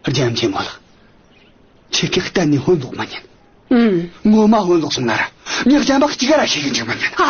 རྒྱལ་མཚན་མོ་ལ་ཆེ་གེགས་གཏན་ནས་སྔོན་ལོག་མ་ཉན་ངོ་མ་སྔོན་ལོག་སོང་ན་ར་མྱག་ཅན་པ་གཅིག་ར་ཤེས་ཀྱི་འཇུག་མ་ཉན་ཨ་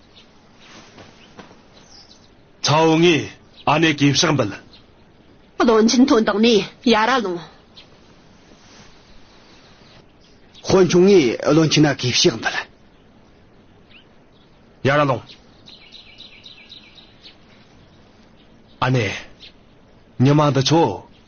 ཚའོ་ངེ་ཨ་ནེ་གེ་ཕྱག་འབུལ། བློན་ཆེན་དོན་དག་ནི་ཡ་ར་ལུང། ཧོན་ཆུང་ངེ་བློན་ཆེན་ཨ་གེ་ཕྱག་འབུལ། ཡ་ར་ལུང། ཨ་ནེ། ཉི་མ་འདི་ཆོ།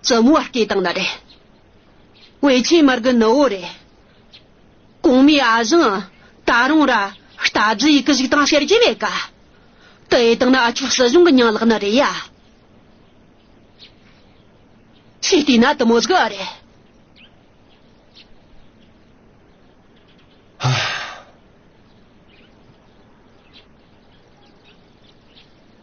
བཙུན་མོ་བར་སྐྱེས་དང་ནི་རེ། བའི་ཆེན་མར་གི་ནི་བོ་རེ། གོང་མའི་ཨ་བཞིན་ད་རུང་ར། རྟ་རྫི་ཡི་གི་གཞུག་དང་ཤེར་རྒྱལ་བའི་ག། དུ་ཨེ་དང་ནི་ཨ་ཆོས་སྲིད་གཞུང་གི་ཉིང་ལག་ནི་རེ་ཡ། ཆེ་ལྟས་ན་དུ་མོ་གཟུགས་ཨ་རེ།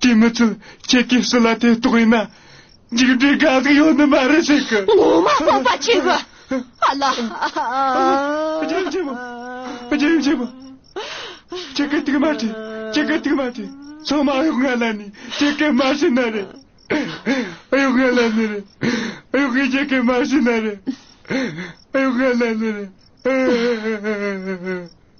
ཀྱི་མི་ཚོས་ཁྱེད་ཀྱི་སྲི་ལ་དེ་རྟོགས་ཡིན་ན། མཇུག་འབྲས་དགའ་སྡུག་ཡོད་ནི་མ་རེད་ཟེར་གི། ངོ་མ་སྤོབས་པ་བྱེད་གི། ཨ་ལ། རྒན་རྒྱལ་པོ། རྒན་རྒྱལ་པོ། ཁྱེད་ཀྱི་དུག་མ་དེ། ཁྱེད་ཀྱི་དུག་མ་དེ། ཚང་མ་ཨ་གཡོག་ང་ལ་ནི་ཁྱེད་ཀྱི་མ་ཤི་ན་རེ། ཨ་གཡོག་ང་ལ་ནི་རེ། ཨ་གཡོག་གིས་ཁྱེད་ཀྱི་མ་ཤི་ན་རེ། ཨ་གཡོག་ང་ལ་ནི་རེ།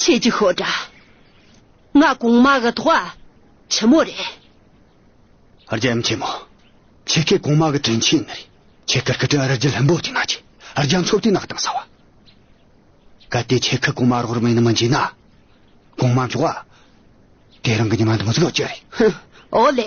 ཁྱེད་ཀྱི་ཤོག་དྲ་ང་གོང་མ་གི་ཐོག་བ་ཆེན་མོ་རེད། རྒྱལ་ཡུམ་ཆེན་མོ། ཁྱེད་ཀྱི་གོང་མ་གི་དྲིན་ཆེན་ནི་རེད། ཁྱེད་ཀྱི་སྐུ་དྲིན་རི་རྒྱུད་ལྷུན་པོ་ཅིག་ན་ཆེ། རྒྱ་མཚོ་དུས་ནག་དང་ས་བ། གལ་ཏེ་ཁྱེད་ཀྱི་གོང་མ་རོགས་རམ་ཡིན་ནི་མི་འཇིག་ན། གོང་མ་མཆོག། དེ་རང་གི་ཉི་མ་འདི་མི་གཟུགས་ཀྱི་རེད། ཧུ། ཨོ་ལེ།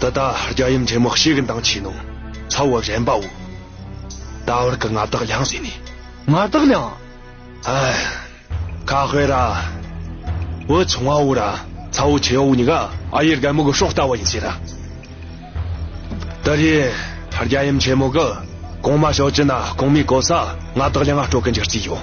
འདི་ལྟ་རྒྱ་ཡུམ་ཆེན་མོ་གཤེགས་མདངས་ཆེ་ནོ། ཚ་བོ་རན་པའོ། ད་བར་གྱི་མངའ་བདག་ལྷང་བཟེད་ནི། མངའ་བདག་ལྷང། ཨན། ཁ་ཧོས་ར། བུ་ཆུང་བ་འུ་ར་ཚ་བོ་ཆེ་འུ་ནི་ག། ཨ་ཡེ་རྒན་མོ་གི་སྲོག་ལྟ་བ་ཡིན་ཟེར་ར། འདི་རི་རྒྱ་ཡུམ་ཆེན་མོ་གི་གོང་མ་ཞོ་ཅི་ན་གོང་མའི་གོ་ས་མངའ་བདག་ལྷང་ང་སྤྲོ་གི་འཇིག་རྩིས་ཡོད།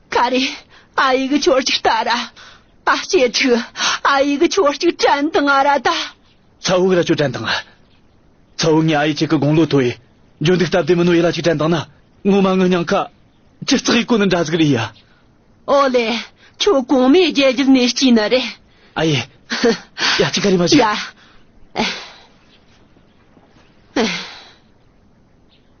ཀ་རེ། ཨ་ཡིག་གི་ཆོར་ཅིག་ཏཱ་ར། ཨ་སྐྱེས་ཕྲུག། ཨ་ཡིག་གི་ཆོར་ཅིག་ཀྲན་དང་ཨ་ར་ཏཱ། ཚ་བུག་ར་ཅོ་ཀྲན་དང་ཨ། ཚ་བུག་ངའི་ཨ་ཡིག་གཅིག་གི་དགུང་ལོ་དོ་ཡི། འཇོ་འདུག་སྟབས་བདེ་མི་ནོ་ཡི་ལ་ཅིག་ཀྲན་དང་ན། ངོ་མ་ངུ་སྙང་ཁ། ཅི་རྩག་ཡིག་གོ་ནི་འདྲ་ཟིག་རི་ཡ། ཨོ་ལེ། ཁྱོད་གོང་མའི་རྒྱལ་རྒྱུད་ནས་སྐྱིས་ནི་རེད། ཨ་ཡེ། ཡ་ཅིག་ཀ་རེ་མ་ཅིག། ཡ།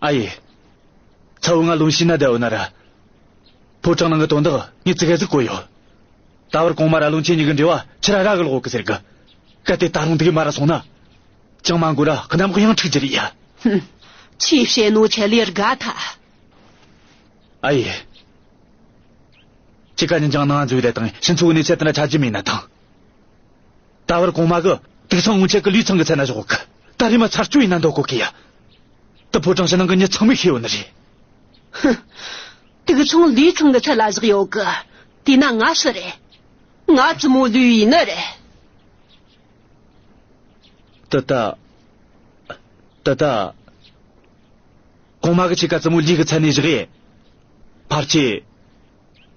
ཨ་ཡེ། ཚ་བོ་ང་ལུང་ཤིན་ན་རྡལ་བོ་ན་ར། ཕོ་བྲང་ནང་གི་དོན་དག་ངས་ཙི་ག་ཙི་གོ་ཡོད། ད་བར་གོང་མ་ར་ལུང་ཁྱེད་གཉིས་ཀྱི་འབྲེལ་བ་ཕྱི་ར་ར་གི་ལོག་གི་ཟེར་གི། གལ་ཏེ་ད་རུང་དེ་གི་མ་ར་སོང་ན། ཅང་མ་འགོར་ར་གི་ནམ་གཡང་འཁྲིག་གྱི་རེད་ཡ། ཧུམ། ཆེས་བཤད་ནོ་ཆེ་ལེར་དགའ་ཐ། ཨ་ཡེ། ཁྱེད་ག་གཉིས་ཀྱང་ནང་འཛུལ་བའི་ལས་དང་ཤིང་འཚོལ་བའི་གནས་ཚད་དེ་འདྲ་ཆགས་ཀྱི་མེད་ན་ཐང། ད་བར་གོང་མ་གི་དུག་ཚང་སྔོན་ཆད་ཀྱི་ལུས་ཚང་གི་ཚད་ན་བཞག་གི་ད་རེས་མ་ཚར་བཅུ་ཡིན་ན་འདོད་གོ་གི་ཡ། དུ་ཕོ་བྲང་ཕྱི་ནང་གི་ཉི་ཚང་མིག་ཤེས་ཡོད་ནི་རེད། ཧུང། དུག་ཚང་ལུས་ཚང་གི་ཚད་ལ་བཞག་ཡོད་གི་དེས་ན་ང་ཤི་རེད། ང་བཙུན་མོ་ལུས་ཡིན་ནི་རེད། ད་ལྟ། ད་ལྟ། གོང་མ་གི་ཕྱེད་ཀ་བཙུན་མོ་ལུས་ཀྱི་ཚད་ནས་བཞག་ཡས། ཕར་ཕྱེད།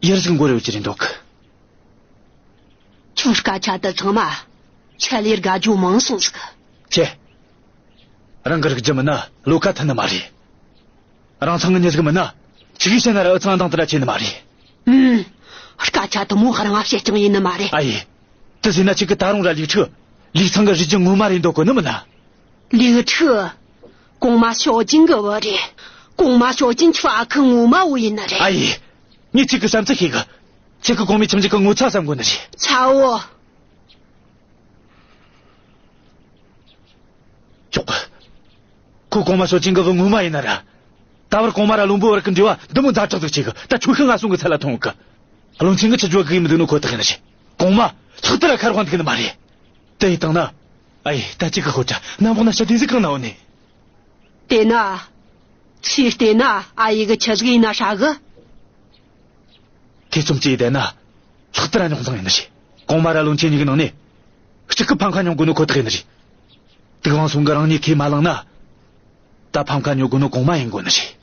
ཡར་གཞུག་འགོར་ཡོད་ཀྱི་རེད་འདོད་གི། ཁྱོད་སྐད་ཆ་དེ་ཚང་མ་ཁྱད་ལས་དགའ་སྐྱོ་མང་གསུངས་ཟིག། ཁྱེད་རང་གི་རིགས་ཀྱི་མི་ནི་བློ་ཁ་མཐུན་ནི་མ་རེད། རང་ཚང་གི་མྱི་རིགས་ཀྱི་མི་ནི་ཕྱི་གིས་བཤད་ན་ར་འུ་ཚང་འདང་དུ་ར་བྱེད་ནི་མ་རེད། ཨུམ། སྐད་ཆ་དུ་མོ་རང་བཤད་རྐྱང་ཡིན་ནི་མ་རེད། ཨ་ཡེ། དེ་ཟེར་ན་ཁྱེད་ཀྱི་ད་རུང་ར་ལིག་ཁྲི། ལིག་ཚང་གི་རིགས་ཀྱི་ངོ་མ་རེད་འདོད་གོ་ནི་མི་ན། ལིག་ཁྲི། གོང་མ་ཞའོ་ཅིན་གྱི་བུ་རེད། གོང་མ་ཞའོ་ཅིན་ཁྱི་བ་ཁི་ངོ་མ་བུ་ཡིན་ནི་རེད། ཨ་ཡེ། ངས་ཁྱེད་ཀྱི་བྱམས་བརྩེ་ཤེས་གི། ཆེ་ཁག་གོང་མའི་ཁྱིམ་ཆེ་ཁག་ངོ་ཚ་ས་འགོ་ན་རེད། ཆའོ། ཅོག་གི། ཁོ་གོང་མ་སོ་ཅིང་གི་བུ་ངོ་མ་ཡིན་ན་ར། ད་བར་གོང་མ་ར་ལུང་པོ་བར་གི་འབྲེལ་བ་འདི་མོ་འཛའ་དྲག་ཙིག་བྱེད་གི་ད་ཆོས་ཤི་ང་སོང་གི་ཚད་ལ་ཐོང་གི། རླུང་ཆེན་གི་ཆུ་རྒྱོ་གི་ཡི་མི་འདུག་ནོ་ཁོ་ཐག་ཡིན་ན་རེད། གོང་མ། ལྷག་དེ་ར་ཁར་དབང་འདུག་གི་ནི་མ་རེད། དེ་ཡི་དང་ན། ཨ་ཡེ་ད་ཅི་གི་ཧོ་ཏྲ་ནམ་བག་ན་ཤ་དེ་ཟིག་གང་ན་འོ་ནི། དེ་ན། ཆུས་བལྟས་ན་ཨ་ཡེ་གི་ཆུ་ཟིག་ཡིན་ན་ཧྲ་གི། ཐེ་ཚོམ་བཅས་ལྡན་ན། ལྷག་དར་རྙོག་འཛིང་ཡིན་ནི་རེད། གོང་མ་ར་ལུང་ཆེན་གཉིས་ཀྱི་ནང་ནས། གཅིག་གི་ཕམ་ཁ་ཉོ་དགོས་ནི་ཁོ་ཐག་ཡིན་ནི་རེད། དུག་དབང་ཟུང་གི་རང་ཉིད་ཁས་མ་བླངས་ན། ད་ཕམ་ཁ་ཉོ་དགོས་ནི་གོང་མ་ཡིན་དགོས་ནི་རེད།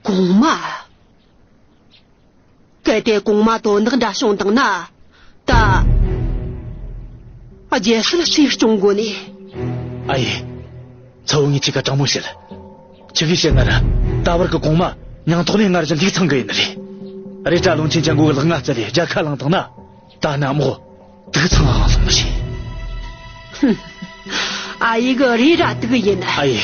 གོང་མ། གལ་ཏེ་གོང་མ་དོ་བདག་འདྲ་བྱུང་དང་ན། ད། རྒྱལ་སྲིད་སྲིད་སྐྱོང་དགོས་ནི། ཨ་ཡེ། ཚ་བོ་ངས་ཁྱི་ཁ་དྲང་མོ་བཤད། ཁྱི་གིས་བཤད་ན་ར་ད་བར་གི་གོང་མ་ཉང་ཐོག་ནས་སྔར་བཞིན་ལྷིག་ཚང་གི་ཡིན་ནི་རེད། རེད་གྲྭ་ལུང་ཆེན་ཆ་མགོ་གི་ལག་ང་རྩེ་ལས་རྒྱ་ཁ་བླངས་དང་ན་ད་ནི་དམག་དབུ་དུག་ཚང་ཨང་ལོག་མི་བྱེད། ཧུམ། ཨ་ཡེ་གི་རེད་ར་དུག་ཡིན་ནི། ཨ་ཡེ།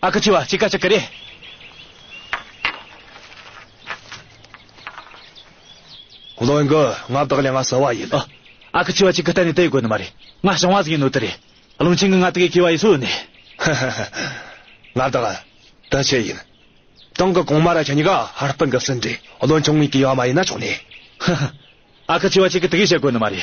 ཨ་ཁུ་ཆུ་བ་ཅིག་ཀ་ཅིག་གི་རེད། བློན་གི་ང་བདག་ལས་ང་བསལ་བ་ཡིན། ཨ་ཁུ་ཆུ་བ་ཅིག་གི་གཏན་ནས་དེ་དགོས་ནི་མ་རེད། ང་ཞིང་བ་ཟིག་ཡིན་ནོ་དེ་རེད། བློན་ཆེན་གི་ང་དགེ་གི་བ་ཡིས་སུ་ནས། ཧ་ཧ་ཧ། ང་བདག་དེ་ཆེ་ཡིན། ཏང་གི་གོང་མ་ར་ཆ་ཉི་ག་ཧར་པི་གི་སྲིན་འབྲས་བློན་ཆུང་ངའི་གི་བ་མ་ཡིན་ན་ཆུང་ནས། ཧ་ཧ། ཨ་ཁུ་ཆུ་བ་ཅིག་གི་དགེ་བཤེས་དགོས་ནི་མ་རེད།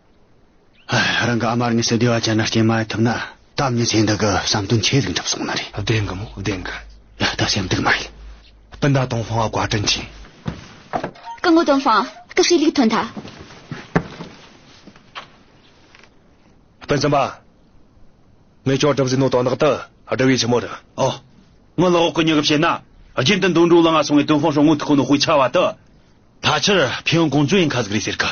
རང་གི་ཨ་མར་དངོས་སུ་བདེ་བ་ཅན་ལ་སྐྱེལ་མ་ཐུབ་ན་དམ་ཉིད་ཚེ་འདི་གི་བསམ་དོན་ཆེ་ཟིག་འགྲུབ་སོང་ན་རེད། བདེན་གི་མོ་བདེན་གི། ད་ལྟ་སེམས་སྡུག་མ་ཡིན། སྤུན་ཟླ་དང་ལྷུང་བ་བཀའ་དྲིན་ཆེ། སྐུ་ངོ་དོན་ཧྥང། སྐུ་ཧྲིལ་ལིག་ཐོན་ཐ། སྤུན་སེམས་པ། ངས་ཅོག་གྲབས་ཟིག་ནོ་དོ་ནག་ཏུ་བསྒྲིལ་བའི་ཕྱི་མོ་རུ། ཨོ། སྔོན་ལ་འོག་གི་མྱུ་གུ་བྱས་ན། རྒྱུན་དུ་འདུག་འགྲོ་ལ་ང་སོང་བའི་དོན་ཧྥང་ཧྲོ་ངུ་ཐུག་ཁོ་ནོ་དཔུའི་ཆ་བ་དུ། ད་ཕྱིར་ཕེ་ཡོན་གོང་ཙུའི་ཡིན་ཁ་ཟིག་རེད་ཟེར་གི།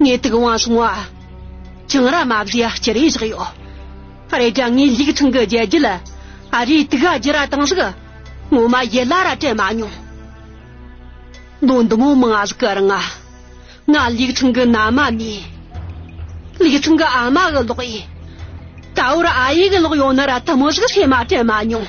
ངས་དུག་དབང་སྲུང་བ། བྱང་ར་མ་བཟའི་སྤྱི་རེ་བཞག་ཡོད། རེད་ཀྱང་ངའི་ལུག་ཐང་གི་རྒྱལ་རྒྱུད་ལ་ཨ་རིའི་དུག་ཨ་རྒྱུ་ར་དང་ཟུག་ངོ་མ་ཡི་ལ་ར་དྲན་མ་མྱོང། ལོ་འདི་མོ་མང་ཟུག་གི་རང་ཨ་ང་ལུག་ཐང་གི་ན་མ་མེད། ལུག་ཐང་གི་ཨ་མ་གི་ལོག་ཨེ། ད་བོར་ཨ་ཡེ་གི་ལོག་ཡོང་ན་ར་དུ་མོ་ཟུག་སེ་མ་དྲན་མ་མྱོང།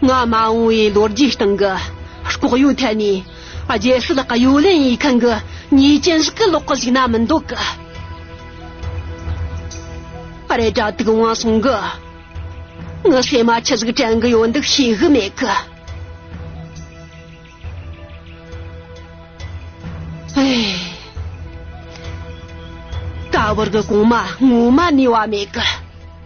སྔ་མ་འོང་བའི་ལོ་རྒྱུས་སྟེང་གི་ལྐོག་གཡོའི་ཐད་ནས་རྒྱལ་སྲིད་གཡོ་ལེན་ཡིག་མཁན་གྱི་ཉེས་ཅན་ཞིག་གི་ལོག་གི་ཞིག་ན་མི་འདུག་གི་རེད་དྲ་ཐུག་དབང་སོང་གི་ངའི་སེམས་མ་ཆི་ཟིག་དྲན་གི་ཡོད་འདུག་ཤེས་གི་མེད་གི། ཀ་བུར་གི་གོང་མ་སྔོན་མ་ནས་བ་མེད་གི།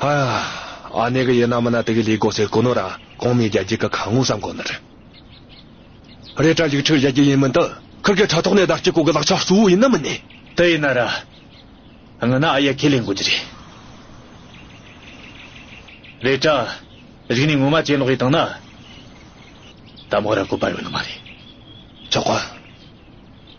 ཨ། ཨ་ནེ་གི་ཡི་ན་མི་ན་དེ་གི་ལས་གོ་སའི་གོ་ནོ་ར་གོང་མའི་རྒྱལ་རྒྱལ་གི་ཁ་ངོ་བསམ་གོ་ནོ་རེ། རེ་དྲ་ལིག་ཁྲི་གཞལ་རྒྱལ་ཡིན་མིན་དུ་ཁུར་གི་དྲ་ཐོག་ནས་ཟླ་གཅིག་གོ་གི་ལག་ཆ་གཙོ་བོ་ཡིན་ན་མིན་ནི། དེ་ཡིན་ན་ར། ངི་ན་ཨ་ཡེ་ཁས་ལེན་གོ་རྒྱུ་རེ། རེ་དྲ། རིག་ནི་ངོ་མ་ཅན་ལོག་ཡི་དང་ན། ད་མོ་ར་གོ་པ་ཡོ་ནི་མ་རེ། ཆོག་གོ།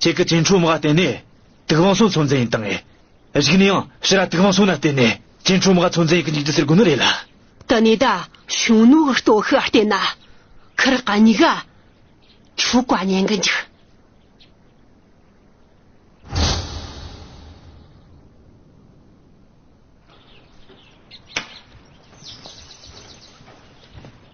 ཁྱེད་ཀྱི་སྐྱེ་འཕྲོ་མ་བརྟེན་ནས་དུག་དབང་སོགས་ཚོད་འཛིན་ཡིན་དང། རིགས་ནི་ཡང་ཕྱི་ར་དུག་དབང་སོགས་ན་བརྟེན་ནས་སྐྱེ་འཕྲོ་མ་ཚོད་འཛིན་ཡིན་གྱི་འཇིག་རྟེན་ཟེར་དགོས་ནི་རེད་ལ། དུ་ནི་དུ་ཞུང་ནུ་བོ་ལྟོ་ཤི་བ་བརྟེན་ན་ཁར་ཀ་ཉི་ག་ཆུ་ཀ་ཉན་གི་འཇུག།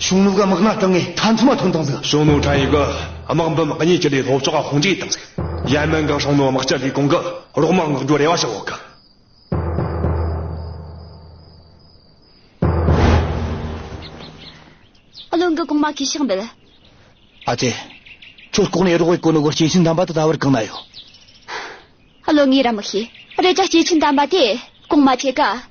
གཞུང་ལུགས་དམག་སྣ་དྲངས་ངས་ཁྲ་མཚོ་མ་ཐོན་དང་ཟིག། གཞུང་ལུགས་ཁྲ་ཡིག་དམག་འབུམ་གཉིས་ཀྱི་ལས་སློབ་ཕྱོགས་ཁ་ཧོང་གཅིག་དང་ཟིག། ཡན་མན་གྱི་གཞུང་ལུགས་དམག་སྤྱི་ལས་ཁུངས་ཀྱི་རོགས་དམག་མངགས་རྒྱུ་རེ་བ་ཞུ་འོག་གི། ཨ་བློན་གྱི་གོང་མ་ཁས་ཤག་འབེལ། ཨ་ཙེ། ཁྱོད་ལྐོག་ནས་རོགས་བས་གོ་ནོ་གོར་སྐྱེས་ཆེན་དམ་པ་དེ་ད་བར་གང་ན་ཡོད། ཨ་བློན་ངས་ར་མི་ཤེས། རེད་ཀྱ་སྐྱེས་ཆེན་དམ་པ་དེ་གོང་མ་ཁྱེད་ག།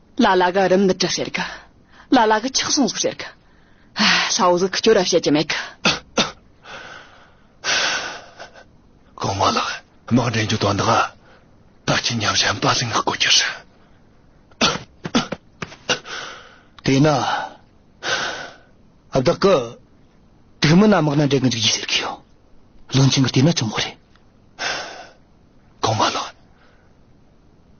ལ་ལ་གི་རིམས་ནད་དྲག་བྱེད་གི། ལ་ལ་གི་ཆག་ཟུང་ཟུག་བྱེད་གི། ལྷ་བོ་གཟུགས་སྐྱོ་ར་བྱེད་ཀྱི་མེད་གི། གོང་མ་ལགས་དམག་འདྲེན་རྒྱུ་དོན་དག་ད་ཁྱི་ཉམས་ཞན་པ་ལིང་བསྐུ་རྒྱུ་རེད། དེས་ན་བདག་གི་དུས་མིན་ན་དམག་ན་འདྲེན་གི་འཇུག་རྒྱུ་ཟེར་གི་ཡོད། བློན་ཆེན་གི་དུས་ན་ཆུང་མོ་རེད། གོང་མ་ལགས།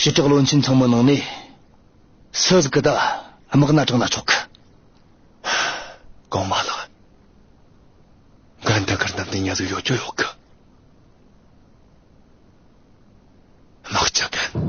ཞི་དྲག་བློན་ཆེན་ཚང་མ་ནང་ནས་སུ་གི་ད་དམག་སྣ་དྲངས་ན་ཆོག་གི། གོང་མ་ལགས། འགན་འདི་འཁུར་ནམ་དུ་ཉེ་ལུགས་ཡོད་ཀྱི་ཡོད་གི། དམག་ཆ་གན།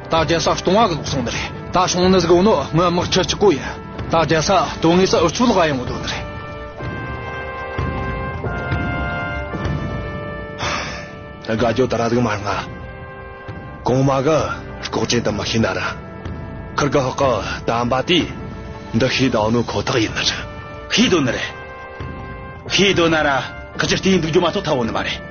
ད་རྒྱལ་ས་སྟོང་བ་གི་ལོག་སོང་འདི་རེད་ད་ཤོང་ནི་གཟིགས་འོ་ནོ་དངོས་དམག་ཁྲི་གཅིག་གོ་ཡིན་ད་རྒྱལ་ས་དོན་དངོས་ས་འུ་ཆོ་ལག་བ་ཡང་འོ་དོ་འདི་རེད། དགའ་སྐྱོ་ད་ར་གཟིགས་མ་རྔ་གོང་མ་གི་ལྐོག་ཅན་དུ་མི་ཤེས་ན་ར་ཁུར་གི་ཧོ་ཀི་དམ་པ་དེ་འདི་ཤེས་དང་འོ་ནོ་ཁོ་ཐག་ཡིན་འདི་རེད། ཤེས་དོ་འདི་རེད། ཤེས་དོ་ན་ར་ཁུ་ཅི་ལྟེ་འདུག་རྒྱུ་མ་ཐོག་ཐ་འོ་ནི་མ་རེད།